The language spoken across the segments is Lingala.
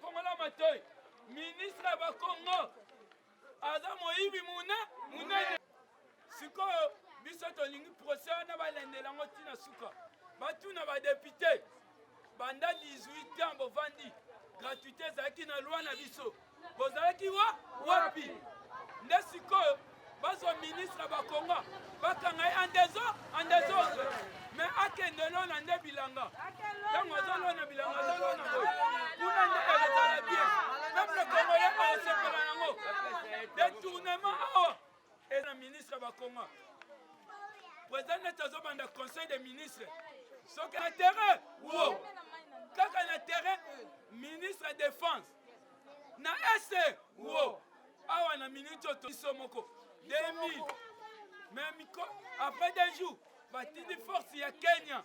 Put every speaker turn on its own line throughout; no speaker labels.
fongola matoi ministre ya bakongo aza moyibi muna munene Sikoyo biso tolingi procès wana balendela yango ti na suka, batuna badepute banda 18 ans bovandi gratuité ezalaki na loi na biso, bozalaki wa wapi? Nde sikoyo bazwa ministre bakonga bakanga ye andezo andezose me akende olona nde bilanga ntango azolona bilanga azolona boye kuna nde ekozala bien peuple congolais aosepela nango detournement awa et na ministre ba konga president neti azobanda conseil des ministres soki na terrain wo kaka na terrain ministre ya défense na ese wo awa na minute oyo toiso moko 2000 mais après deux jours batindi force ya kenya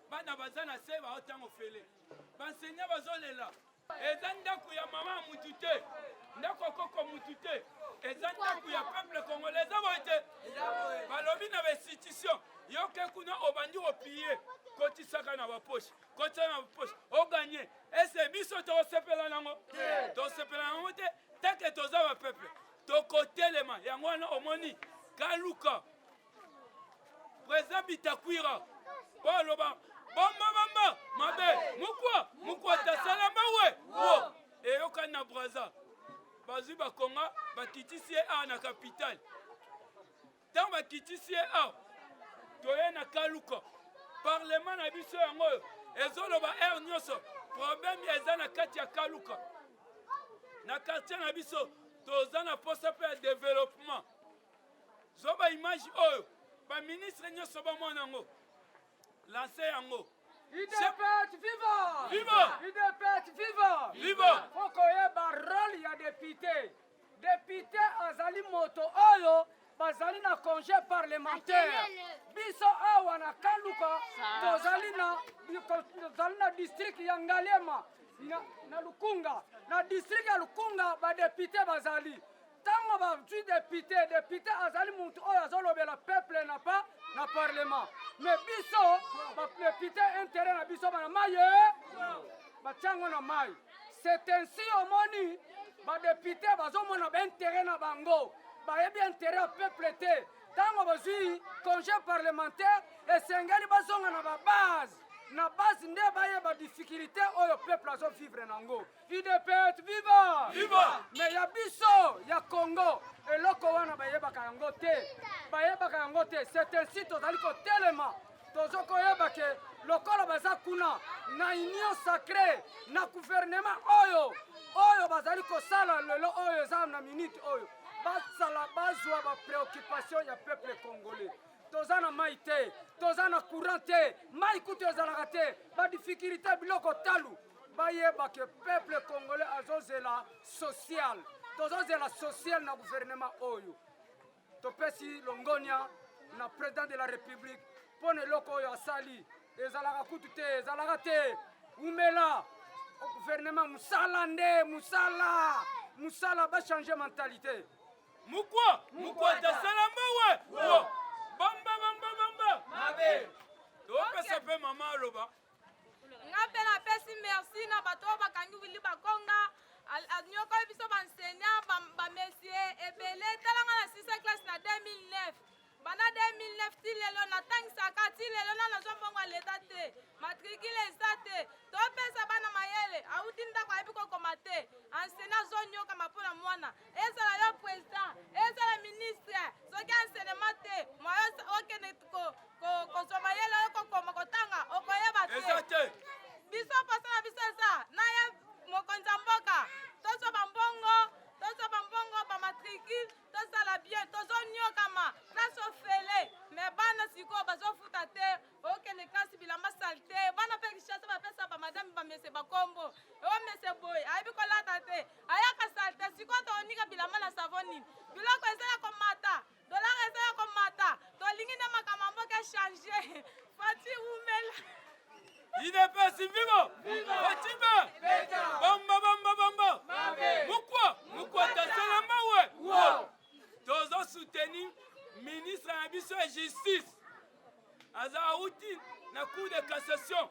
bana baza na se bao ntango ofele bansenya bazolela eza ndako ya mama ya mutu te ndako ya koko mutu te eza ndako ya peuple congolais eza boye te balobi na bainstitution yoke kuna obandi kopiye kotisaka na bapoche kotisaka na bapoche oganye ese biso tokosepela nango tosepela nango te teke toza bapeple tokotelema yango wana omoni kaluka President Bitakwira baloba bamba bamba mabe mukwa mukwa tasala mawe wo eyokani na Brazza bazwi bakonga bakitisi ye awa na kapitale ntango bakitisi ye awa toye na kaluka parlema na biso yango oyo ezoloba aire nyonso problème eza na kati ya kaluka na quartier na biso toza na posa mpe ya développement Zwa ba image oyo ba ministre nyonso bamona yango lanse yango UDPS
viva! Viva! UDPS
viva!
Viva! Faut
koyeba
role ya depute. Depute azali moto oyo bazali na congé parlementaire. Biso awa na Kaluka tozali na tozali na district ya Ngaliema na, na Lukunga. Na district ya Lukunga ba depute bazali Tango ba zwi depute, depute azali mutu oyo azolobela peuple na pa na parlement. Mais biso ba depute interet na biso bana maye batiango na mai. C'est ainsi omoni ba depute bazomona ba interet na bango bayebi interet ya peuple te. Tango bazwi congé parlementaire esengeli bazonga na ba base na base nde bayeba difficulté oyo peuple azo vivre nango. udps viva viva me ya
biso
ya congo eloko wana bayebaka yango te bayebaka yango te c'est ainsi tozali kotelema tozo koyeba ke lokola baza kuna na union sacré na guvernema oyo oyo bazali kosala lelo oyo eza na minute oyo basala bazwa bapreoccupation ya peuple congolais toza na mai te toza na courant te mai kutu ezalaka te badifikulté biloko talu Bayeba que peuple congolais azozela social. Tozozela social na gouvernement oyo. Topesi longonia na president de la republique mpo na eloko oyo asali ezalaka kutu te ezalaka te umela gouvernement musala nde musala musala bachange mentalite mukwa
mukwata sala mawe bamba bamba bamba mabe topesa mpe mama aloba nga mpe
napesi merci na bato oyo bakangi wili bakonga anyokoli biso baenseignant bamesie ebele tala nga na 6 classe na 2009 banda 2009 ti lelo natangisaka ti lelo na nazwa mbongo ya leta te matrikile eza te topesa bana mayele auti ndako ayebi kokoma te enseignant azonyoka mapona mwana ezala yo president ezala ministre soki enseignement te moyo okende kozwa mayele oyo kokoma kotanga okoyeba te biso posa na biso eza na ye mokonzi ya mboka tozwa bambongo tozwa bambongo bamatricule tozala bien tozonyokama place ofele me bana sikoyo bazofuta te okende kasi bilamba salite bana mpe kishasa bapesa bamadame bamese bakombo o mese boye ayebi kolata te ayaka salite sikoyo tonika bilamba na savo nini biloko eza ya komata dolare eza ya komata tolingi nde makambo mboka echange fati wumela idps vivo
fatima bamba bamba bamba mukwa mukwa tasala mawe tozo soutenir ministre na biso ya justice aza auti na cour de cassation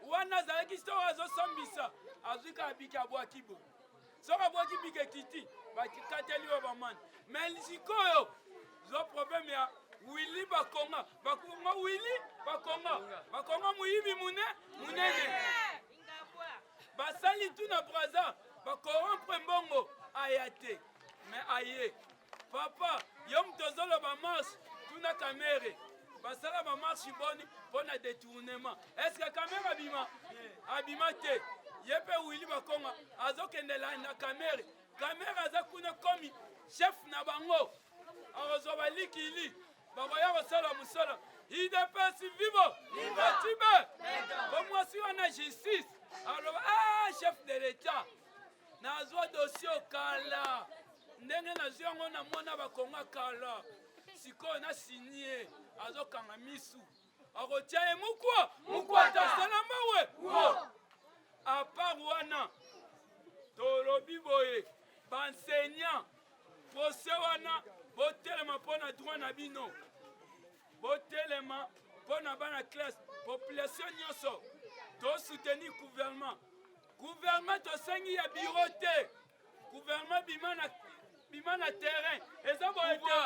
wana azalaki soko azosambisa azwi kaka biki abwaki bo soko abwaki biki ekiti bakikateli yo bamani me sikoyo zwa probleme ya wili bakonga bakonga wili bakonga bakonga moyibi mune munene basali tu na braza bakorompre mbongo aya te me aye Papa, yo moto ozoloba marche, tuna Kamere basala ba marche boni mpo na detournement. Est-ce que Kamere abima? Abima te. Ye mpe Willy Bakonga azokende landa Kamere. Kamere aza kuna komi chef na bango, akozwa balikili bakoya kosala mosala. UDPS vivo Batibe, bomwasi wana justice aloba ah, chef de l'etat nazwa dosio kala ndenge nazwi yango na mwana bakonga kala sikoyo na sinie azokanga misu akotya ye mukwa mukwatazana mawe apart wana tolobi boye banseignant prose wana botelema mpo na droit na bino botelema mpo na bana classe population nyonso tosoutenir gouvernement Gouvernement tosengi ya bureau te. Gouvernement bima na bima na terrain. Eza boye te.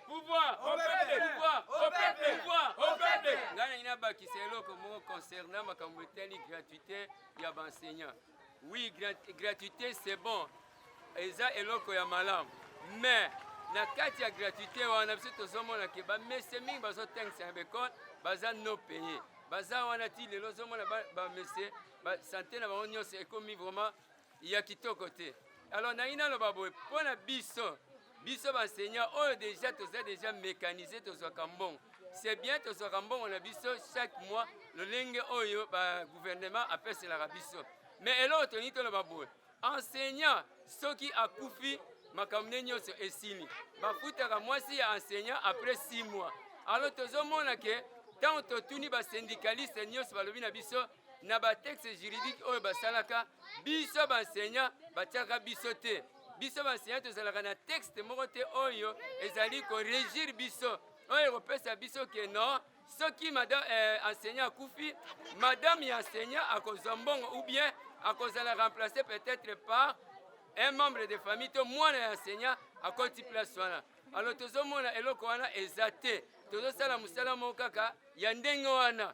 Pouvoir au peuple, pouvoir au peuple,
pouvoir au peuple. Nga na ina bakisa eloko moko concernant makambo etali gratuité ya ba enseignants. Oui, grat gratuité c'est bon. Eza eloko ya malamu. Mais na kati ya gratuité wana biso tozomona ke bamese mingi bazotangisa na baekole baza no paye baza wana ti lelo ozomona bamese ba sante na bango nyonso ekomi vraiment ya kitoko te alors nangi naloba boye mpo na biso biso banseignant oyo deja toza deja mécanise tozwaka mbongo c'est bien tozwaka mbongo na biso chaque mois lolenge oyo bagouvernement apeselaka biso mais eloko tolingi toloba boye enseignant soki akufi makambo nde nyonso esili bafutaka mwasi ya enseignant après 6 mois alors tozomona ke ntango totuni basyndicaliste nyonso balobi na biso na ba texte juridique oyo basalaka biso ba enseignant batiaka biso te biso ba enseignant tozalaka na texte moko te oyo ezali koregir biso oyo ekopesa biso ke non soki madame eh, enseignant akufi madame ya enseignant akozwa mbongo ou bien akozala remplacer peut-être par un membre de famille to mwana ya enseignant akoti place wana alors tozomona eloko wana eza te tozosala mosala moko kaka ya ndenge wana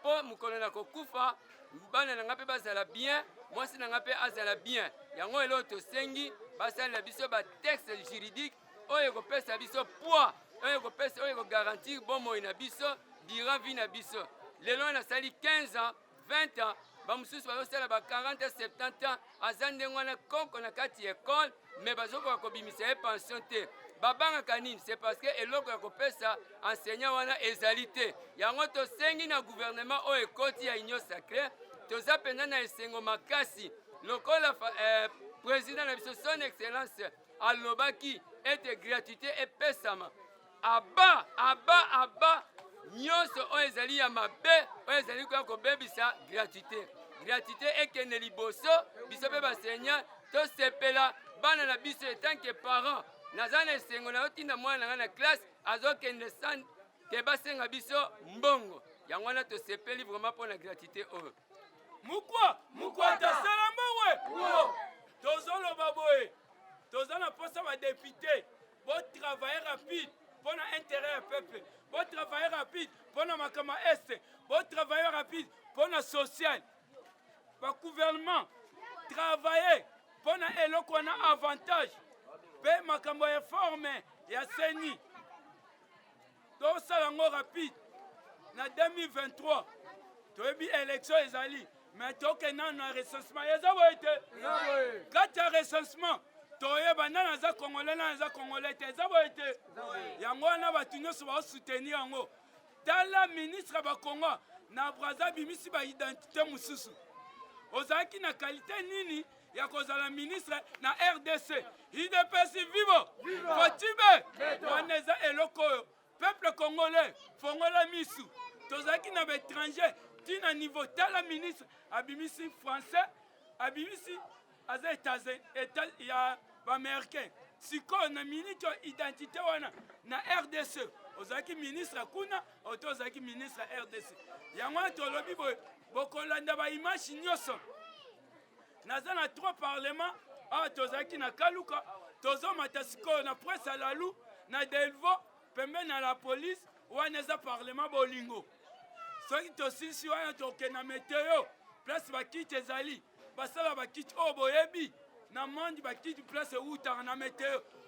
mpo mokolo na kokufa bana na ngai mpe bazala bien mwasi na ngai mpe azala bien yango eloo tosengi basalela biso batexte juridique oyo ekopesa biso poids oyo ekopesa oyo ekogarantir bomoi na biso durant vie na biso lelo nasali 15 ans 20 ans bamosusu bazosala ba 40 70 ans aza ndenge wana koko na kati ya ekole me bazokoka kobimisa ye pension te babangaka nini c'est parce que eloko ya kopesa enseignant wana ezali te yango tosengi na gouvernement oyo ekoti ya union sacré toza mpenza na esengo makasi lokola eh, président na biso son excellence alobaki ete gratuité epesama aba aba aba nyonso oyo ezali ya mabe oyo ezali koya kobebisa gratuité gratuité ekende liboso biso mpe baseigneur tosepela bana na biso etanke parent naza na esengo nayotinda mwana na ngai na classe azokende san te basenga biso mbongo yango wana tosepeli vraiment mpo na gratuité oyo mukwa
mukwata sala mbowe tozoloba boye toza na mposa badepute Bo travailler rapide pona intérêt ya peuple, bo travailler rapide pona makambo ya est, bo travailler rapide pona social. Ba gouvernement travailler pona eloko wana avantage pe makambo ya forme ya CENI. tosala yango rapide na 2023 toyebi élection ezali mais tokende nano na recensement eza boye te kati ya recensement toyeba nani aza congolais nani aza congolais te eza boye te yango wana bato nyonso baosoutenir yango tala ministre ya bakongo na braza abimisi baidentité mosusu ozalaki na kalite nini ya kozala ministre na rdc idps vivo kotibe wana eza eloko oyo peuple congolais fongola misu tozalaki na baétranger ti na niveau tala ministre abimisi français abimisi aza eta ya baaméricain sikoyo na miniti oyo identité wana na rdc ozalaki ministre kuna oto ozalaki ministre rdc yango wana tolobi boye bokolanda baimage nyonso naza na trois parlement awa ah, tozalaki na kaluka tozomata sikoyo na presse ya lalu na delvo pembeni na la police wana eza parlement bolingo soki tosilisi wana tokende na meteo place bakiti ezali basala bakiti oyo oh, boyebi na monde bakiti place ewutaka na meteo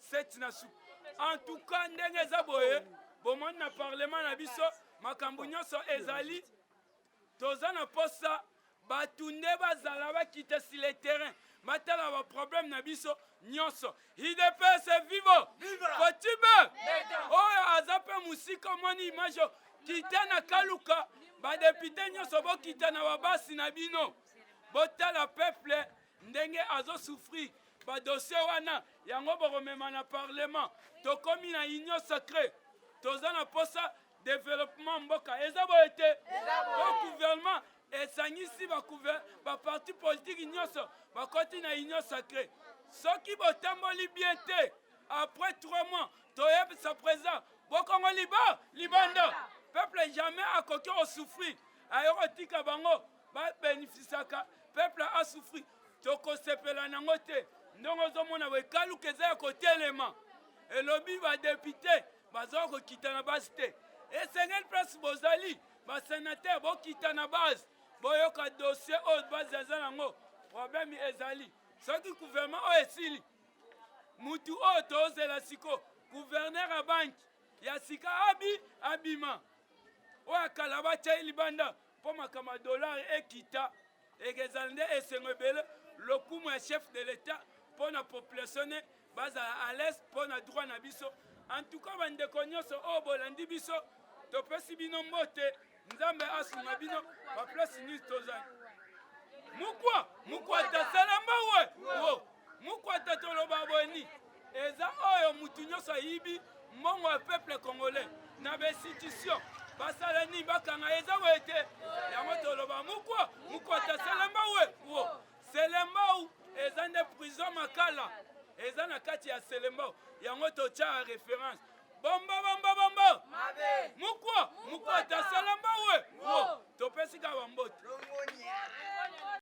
Seti na su. En tout cas ndenge eza boye bomoni na parlement na biso makambo nyonso ezali toza na posa bato nde bazala bakita si le terrain batala baproblème na biso nyonso idps vivo kotibe oyo aza mpe mosika omoni image oyo kita na kaluka badepute nyonso bokita na babasi na bino botala peuple ndenge azo souffrir ba dossier wana yango bokomema na parlement tokomi na union sacrée toza na posa developement mboka eza boye te po gouvernement esangisi baparti politiki nyonso bakoti na union sacré soki botamboli bien te après trois mois toyebisa président bokongo liba libanda peuple jamais akoki osouffrir ayokotika bango ba benefisaka peuple a souffrir tokosepela nango te ndenge ozomona wekaluka eza ya kotelema elobi badepute baza kokita na base te esengeli place bozali basenatere bokita na base boyoka dossier oyo base aza nango problème ezali soki gouvernement oyo esili mutu oyo tozela siko gouverneur ya banki ya sika abi abima oyo akala batyai libanda Mpo makambo ya dollar ekita, ekezala nde esengo ebele, lokumu ya chef de l'etat mpo na population ne bazala à l'aise mpo na droit na biso. En tout cas bandeko nyonso oyo oh, bolandi biso, topesi bino mbote, Nzambe asunga bino ba place nyonso tozali. Mukwa, mukwa tasala mbawe. Mukwata toloba boni eza oyo mutu nyonso ayibi mbongo ya peuple congolais na ba institution basala nini bakanga eza boye te yango toloba mukwa mukwata selemba we wo selembau eza nde prison makala eza na kati ya selembao yango totya ya reference bomba bomba bomba mukwa mukwa tasalamba we wo topesi kaka bambote